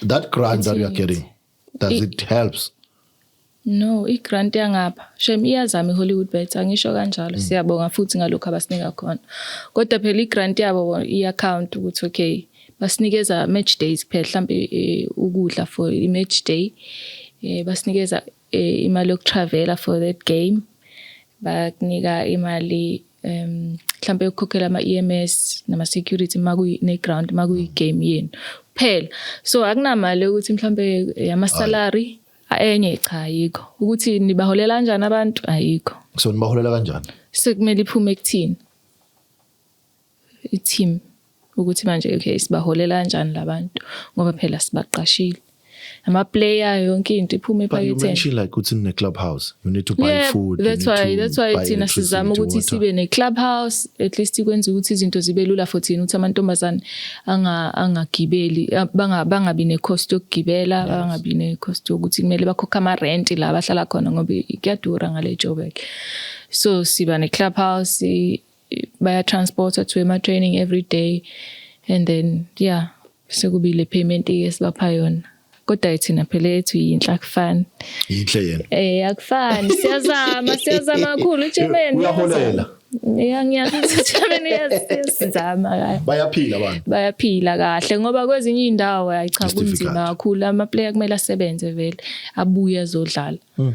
that grant that you are getting does it, it helps no i-grant yangapha shem iyazama i-hollywood bet angisho kanjalo mm. siyabonga futhi ngalokhu abasinika khona kodwa phela i-grant yabo i-account ukuthi okay basinikeza match days kuphela mhlawumbe eh, ukudla for i-match day eh, basinikeza eh, imali yokutravela for that game bakunika imali um mhlambe ukukhokhela ama EMS nama security makuyi ne ground makuyi game yenu kuphela so akunamali ukuthi mhlambe eh, ama salary enye cha ayikho ukuthi nibaholela kanjani abantu ayikho so nibaholela kanjani sekumele iphume ekuthini i team ukuthi manje okay sibaholela kanjani labantu ngoba phela sibaqashile ama player yonke into iphuma ephaketheni you mentioned like ukuthi ne club house you need to buy yeah, food that's why that's why thina sizama ukuthi sibe ne club house at least ikwenza ukuthi izinto zibe lula for thina ukuthi amantombazane anga angagibeli banga bangabi ne cost yokugibela bangabi ne cost yokuthi kumele bakhokhe ama rent la bahlala khona ngoba kuyadura ngale Joburg so siba ne club house baya transporter to ema training every day and then yeah sekubile payment esibapha yona kodwa ithina phela ethu yinhle akufani yinhle yena eh akufani siyazama siyazama kakhulu uJemeni uyaholela Yeah ngiyazijabeni yasizama kahle. Bayaphila abantu. Bayaphila kahle ngoba kwezinye indawo ayicha kunzima kakhulu ama player kumele asebenze vele abuye azodlala. Hmm.